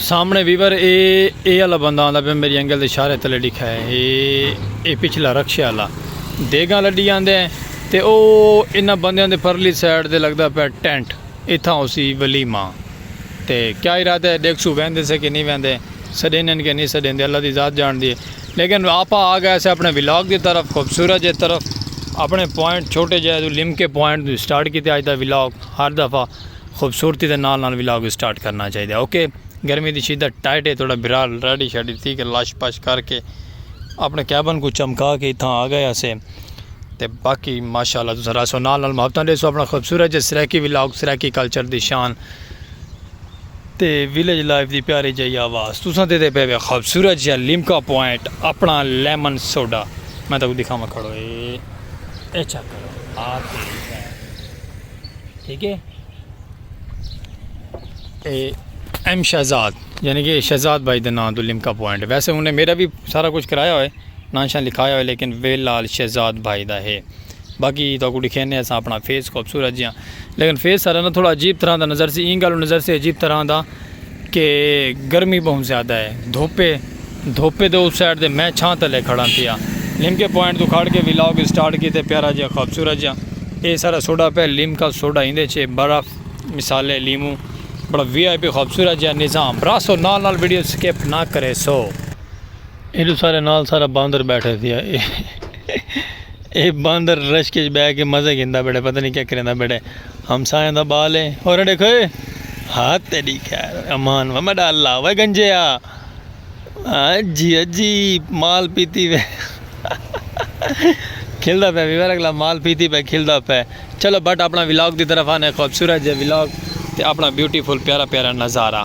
سامنے ویور اے اے والا بندہ آندا پہ میری انگل دے اشارے تلے ڈکھا ہے اے اے پچھلا رکشے والا دیگاں لڈی آندے ہیں تے او انہاں بندیاں دے پرلی سائیڈ دے لگدا پہ ٹینٹ اتھاں اسی ولیما تے کیا ارادہ ہے ڈیکھ سو ویندے سے کہ نہیں ویندے سڈینن کے نہیں سڈیندے اللہ دی ذات جان دی ہے لیکن آپاں آ گئے سے اپنے ولاگ دی طرف خوبصورت جے طرف اپنے پوائنٹ چھوٹے جے توں لم کے پوائنٹ توں سٹارٹ کیتے اج دا ولاگ ہر دفعہ خوبصورتی دے نال نال ولاگ سٹارٹ کرنا چاہیے اوکے گرمی دی شدت ٹائٹ ہے تھوڑا برال ریڈی شیڈی تھی کے لاش پاش کر کے اپنے کیبن کو چمکا کے اتھاں آ گئے اسے تے باقی ماشاءاللہ تساں راسو نال نال محبتاں دے سو اپنا خوبصورت جے سرائیکی ولاگ سرائیکی کلچر دی شان تے ویلیج لائف دی پیاری جئی آواز تساں تے تے پئے وے خوبصورت جیہا لیمکا پوائنٹ اپنا لیمن سوڈا میں تہاکوں دکھاواں کھڑو اے اے چیک کرو آ تیری بہن ٹھیک ہے اے ایم شہزاد یعنی کہ شہزاد بھائی دے نام تو لیمکا پوائنٹ ویسے انہیں میرا بھی سارا کچھ کرایا ہوئے نام شان لکھایا ہوئے لیکن ویلال شہزاد بھائی دا ہے باقی تو کو ڈکھینے اساں اپنا فیس خوبصورت جیاں لیکن فیس سارا نہ تھوڑا عجیب طرح دا نظر سی اینگلو نظر سی عجیب طرح دا کہ گرمی بہن زیادہ ہے دھوپے دھوپے دے اس سائڈ دے میں چھاں تلے کھڑا تھیا لم کے پوائنٹ تو کھڑ کے ویلاگ سٹارٹ کی تے پیارا جیاں خوبصورت جیاں اے سارا سوڈا پہ لم کا سوڈا ہندے چھے برف مثالے لیمو بڑا وی آئی پی خوبصورت جیاں نظام براسو نال نال ویڈیو سکیپ نہ کرے سو ایڈو سارے نال سارا باندر بیٹھے تھے اے باندر رش کے بہ کے مزے گھندا بیٹھے پتہ نہیں کیا کریندا بیٹھے ہم سائیں دا بال ہے اور اڑے کھوئے ہاتھ تیری خیر امان و مڈا اللہ و گنجے آ جی جی مال پیتی وے کھلدا پہ ویور اگلا مال پیتی پہ کھلدا پہ چلو بٹ اپنا ولاگ دی طرف آنے خوبصورت جے ولاگ تے اپنا بیوٹیفل پیارا پیارا نظارہ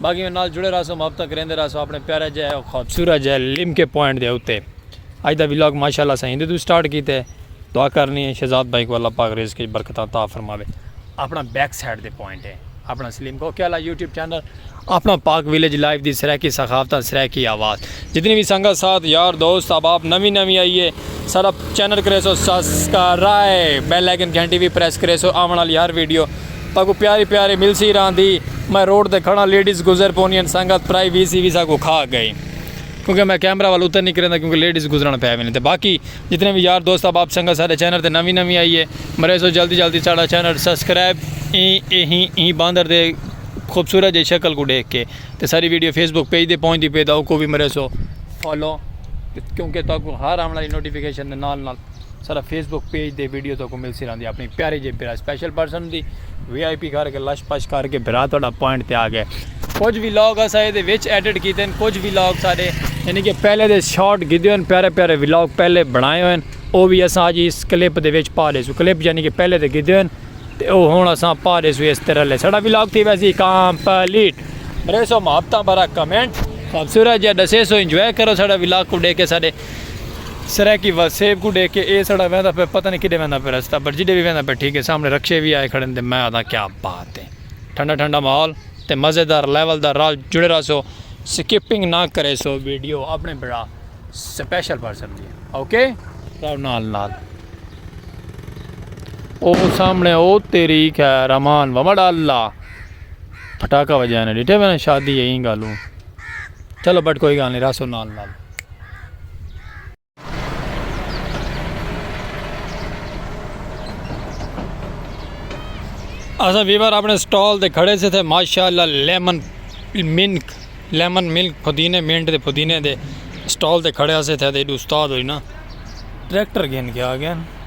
باقی میں نال جڑے رہسو محبتاں کریندے رہسو اپنے پیارے جے او خوبصورت جے لمکے پوائنٹ دے اتے اج دا ولاگ ماشاءاللہ اساں ایندے توں سٹارٹ کیتے دعا کرنی اے شہزاد بھائی کوں اللہ پاک رزق اچ برکتاں عطا فرماوے اپنا بیک سائیڈ دے پوائنٹ اے اپنا سلیم کو کیا لا یوٹیوب چینل اپنا پاک ویلیج لائف دی سرائیکی ثقافتاں سرائیکی آواز جتنی بھی سنگت ساتھ یار دوست اب آپ نوی نوی آئی اے سارا چینل کریسو سبسکرائب بیل آئیکن گھنٹی بھی پریس کریسو آون والی ہر ویڈیو ساکوں پیاری پیاری ملسی راہندی میں روڈ تے کھڑاں لیڈیز گزر پونیاں سنگت پرائی ویسی وی ساکوں کھا گئی کیونکہ میں کیمرہ ول اتر نی کریندا کیونکہ لیڈیز گزرن پے ویندی تے باقی جتنے وی یار دوست احباب سنگت ساڈے چینل تے نوی نوی آئی ہے مریسو جلدی جلدی ساڈا چینل سبسکرائب ایں ایں ایں باندر دے خوبصورت جے شکل کوں ڈیکھ کے تے ساری ویڈیو فیس بک پیج دے پہنچ دی پے دا اوکوں وی مریسو فالو کیونکہ تاکوں ہر آن والی نوٹیفکیشن دے نال نال سارا فیس بک پیج دے ویڈیو تو کو مل سی رہندی اپنی پیارے جے برا سپیشل پرسن دی وی آئی پی کر کے لش پش کر کے برا تھوڑا پوائنٹ تے آ گئے کچھ بھی لاگ اسا اے دے وچ ایڈٹ کیتے ہیں کچھ بھی لاگ سارے یعنی کہ پہلے دے شارٹ گیدے ہوئے ہیں پیارے پیارے وی لاگ پہلے بنائے ہوئے ہیں او بھی اسا آج اس کلپ دے وچ پا لے سو کلپ یعنی کہ پہلے دے گیدے ہوئے ہیں تے او ہون اسا پا لے سو اس طرح لے سڑا وی لاگ تھی ویسی کامپلیٹ بریسو محبتہ برا کمنٹ خوبصورت جا ڈسے سو انجوائے کرو سڑا وی لاگ کو ڈے کے سارے سرائیکی وسیب کوں ڈیکھ کے اے سڑا ویندا پے پتہ نی کڈے ویندا پے رستہ پر جڈے وی ویندا پے ٹھیک اے سامنے رکشے وی آئے کھڑن تے میں آدھاں کیا بات اے ٹھنڈا ٹھنڈا ماحول تے مزے دار لیول دا رال جڑے رہسو سکپنگ نہ کریسو ویڈیو اپنے بھرا سپیشل پرسن دی اوکے راو نال نال او سامنے او تیری خیر امان ومڑ اللہ پھٹاکا وجانے ڈیٹے میں شادی ایں گالوں چلو بٹ کوئی گال نہیں راسو نال نال اساں ویور اپنے سٹال تے کھڑے سے تھے ماشاءاللہ لیمن ملک لیمن ملک پودینے مینٹ دے پودینے دے سٹال تے کھڑے سے تھے تے استاد ہوئی نا ٹریکٹر گھن کے آ گئے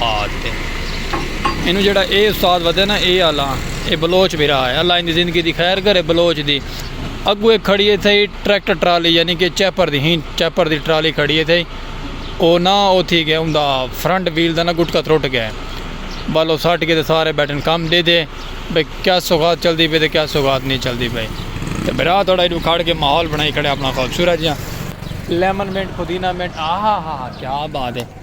آہت تے اینوں جیڑھا اے استاد ودے نا اے آلاں اے بلوچ بھرا ہے اللہ ایندی زندگی دی خیر کرے بلوچ دی اگو اے کھڑی اے تھئی ٹریکٹر ٹرالی یعنی کہ چیپر دی ہین چیپر دی ٹرالی کھڑی اے تھئی او نا او تھی گیا اوندا فرنٹ ویل دا نا گٹکا ترٹ گیا بالو سٹ کے تے سارے بیٹھن کم دے دے بے کیا سوغات چل دی پے تے کیا سوغات نہیں چل دی پے تے بھرا تھوڑا ایڈو کھڑ کے ماحول بنائی کھڑے اپنا خوبصورت جیاں لیمن منٹ پودینہ منٹ آہا ہا ہا کیا بات ہے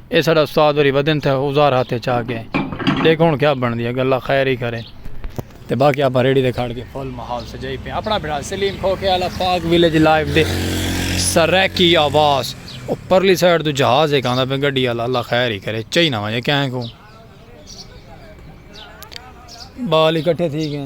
اے ساڑا استاد وری ودن تھے اوزار ہاتھ اچ آ گئے دیکھو ہن کیا بندی اے گل اللہ خیر ہی کرے تے باقی اپا ریڑی دے کھڑ کے فل ماحول سجائی پے اپنا بھرا سلیم کھو کے الا فاگ ویلیج لائیو دے سرکی آواز او پرلی سائیڈ تو جہاز ایک آندا پے گڈی الا اللہ خیر ہی کرے چئی نہ وجے کہیں کو بال اکٹھے تھی گئے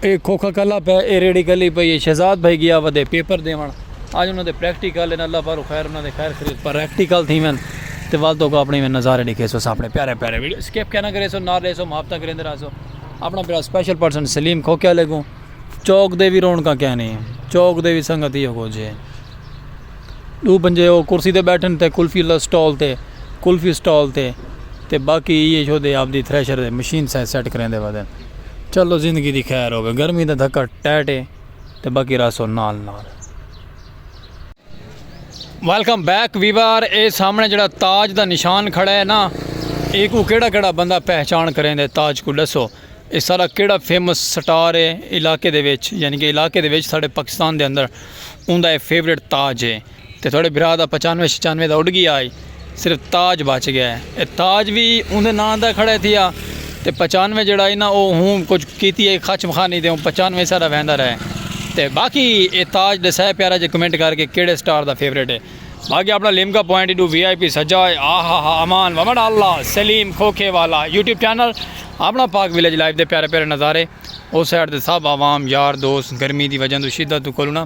اے کھوکھا کلا پئے اے ریڑھی کلی پئی اے شہزاد بھائی گیا ودے پیپر دیون اج انہاں دے پریکٹیکل ان اللہ پاروں خیر انہاں دے خیر خرید پریکٹیکل تھیون تے ول تو کو اپنی میں نظارے ڈکھے سو سامنے پیارے پیارے ویڈیو سکپ کہنا کرے سو نار لے سو محبتہ کریندے رہا سو اپنا بڑا سپیشل پرسن سلیم کھوکھے لے گوں چوک دے وی رونکاں کہنی چوک دے وی سنگت ہی ہو گو جے دو بندے او کرسی تے بیٹھن تے کلفی اللہ سٹال تے کلفی سٹال تے تے باقی یہ جو دے آپ دی تھریشر دے مشین سائیں سیٹ کریں دے وزن چلو زندگی دی خیر ہوگی گرمی دا دھکا ٹیٹ ہے تے باقی راسو نال نال ویلکم بیک ویوار اے سامنے جڑا تاج دا نشان کھڑا ہے نا ایک کو کیڑا کیڑا بندہ پہچان کریں دے تاج کو ڈسو اے سارا کیڑا فیمس سٹار اے علاقے دے وچ یعنی کہ علاقے دے وچ ساڈے پاکستان دے اندر اوندا اے فیورٹ تاج اے تے تھوڑے بھرا دا پچانوے شچانوے دا اڈ گیا ہائی صرف تاج بچ گیا اے تاج وی اوندے ناں دا کھڑے تھیا تے پچانوے جڑا اے نا او ہوں کچھ کیتی اے خچم خانی تے پچانوے سارا ویندا رہے تے باقی اے تاج دسائے پیارا جے کمنٹ کر کے کیڑے سٹار دا فیورٹ اے۔ باقی اپنا لیمکا پوائنٹ ایڈو وی آئی پی سجا ہوئے آہ آہ آہ امان ومن اللہ سلیم کھوکھے والا یوٹیوب چینل اپنا پاک ویلیج لائف دے پیارے پیارے نظارے او سائڈ دے سب عوام یار دوست گرمی دی وجہ دو شدت دو کولونا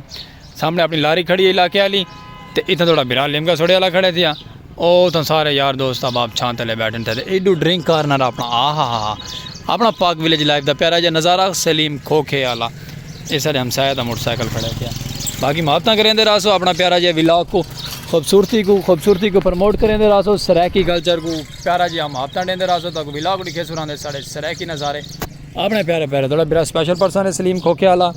سامنے اپنی لاری کھڑی ہے علاقے والی تے اتھا تھوڑا برا لیمکا سوڑے والا کھڑے تھیا او تھا سارے یار دوست اب آپ چھان تلے بیٹھن تھے ایڈو ڈرنک کارنر اپنا آہ آہ آہ اپنا پاک ویلیج لائف دا پیارا جا نظارہ سلیم کھوکھے والا اے ساڈے ہمسایہ دا موٹر سائیکل کھڑا پیا باقی محبتاں کریندے رہسو اپنا پیارا جے ولاگ کو خوبصورتی کو خوبصورتی کو پروموٹ کریندے رہسو سرائیکی کلچر کو پیارا جے محبتاں ڈیندے رہسو تاکو ولاگ ڈکھے سو راندے ساڈے سرائیکی نظارے اپنے پیارے پیارے تھوڑا برا سپیشل پرسن ہے سلیم کھوکھے والا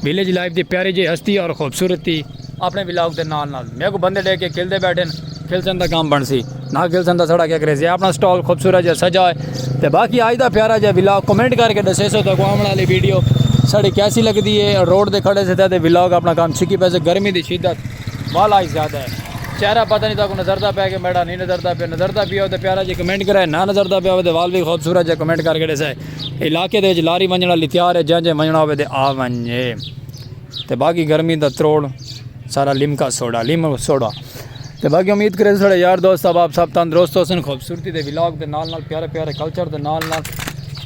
ویلیج لائف دی پیاری جے ہستی اور خوبصورتی۔ اپݨے ولاگ دے نال نال میکوں بندے ݙیکھ کے کھلدے ٻیٹھن، کھلسن تاں کم بݨسی، نہ کھلسن تاں ساݙا کیا کریسی، اپݨا سٹال خوبصورت جیہا سجا ہے تے باقی اڄ دا پیارا جیہا ولاگ کمنٹ کر کے ݙسیسو تہاکوں آوݨ آلی ویڈیو ساݙی کیسی لڳدی ہے، روڈ تے کھڑے سے تاں تے ولاگ اپݨا کم سکھی پیسے، گرمی دی شدت والا ہی زیادہ ہے، چہرہ پتہ نی تہاکوں نظردا پئے کہ میݙا نی نظردا پئے، نظردا پیا ہووے تاں پیارا جیہا کمنٹ کرائے، نہ نظردا پیا ہووے تاں وال وی خوبصورت جیہا کمنٹ کر کے ݙسائے، علاقے دے وچ لاری ونڄݨ آلی تیار ہے جئیں جئیں ونڄݨا ہووے تے آ ونڄے۔ تے باقی گرمی دا تروڑ سارا لیمکا سوڈا لیمو سوڈا تے باقی امید کرے سارے یار دوست احباب سب تندرست ہوسن خوبصورتی دے ولاگ دے نال نال پیارے پیارے کلچر دے نال نال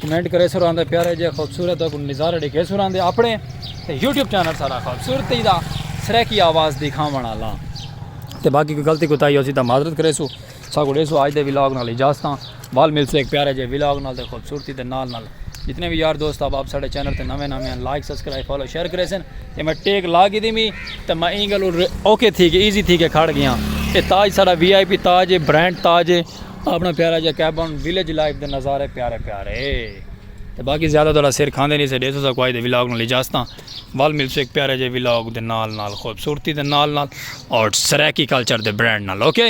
کمنٹ کرے سر آندے پیارے جے خوبصورت کو نظارہ ڈیکھے سر آندے اپنے تے یوٹیوب چینل سارا خوبصورتی دا سرے کی آواز دکھاون والا تے باقی کوئی غلطی کوتاہی ہوسی تا معذرت کرے سو ساکوں ڈیسو آج دے ولاگ نال اجازتاں ول ملسے ہک پیارے جے ولاگ نال تے خوبصورتی دے نال نال جتنے وی یار دوست احباب ساڈے چینل تے نویں نویں ہن لائک سبسکرائب فالو شیئر کریسن تے میں ٹیک لا گھدی می تے میں اینگل اوکے تھی کے ایزی تھی کے کھڑ گیاں اے تاج ساڈا وی آئی پی تاج اے برانڈ تاج اے اپنا پیارا جے کیبن ویلیج لائف دے نظارے پیارے پیارے تے باقی زیادہ تہاڈا سر کھاندے نہیں سے ڈیسو ساکوں آج دے ولاگ نال اجازتاں ول ملسے ہک پیارے جے ولاگ دے نال نال خوبصورتی دے نال نال اور سرائیکی کلچر دے برانڈ نال اوکے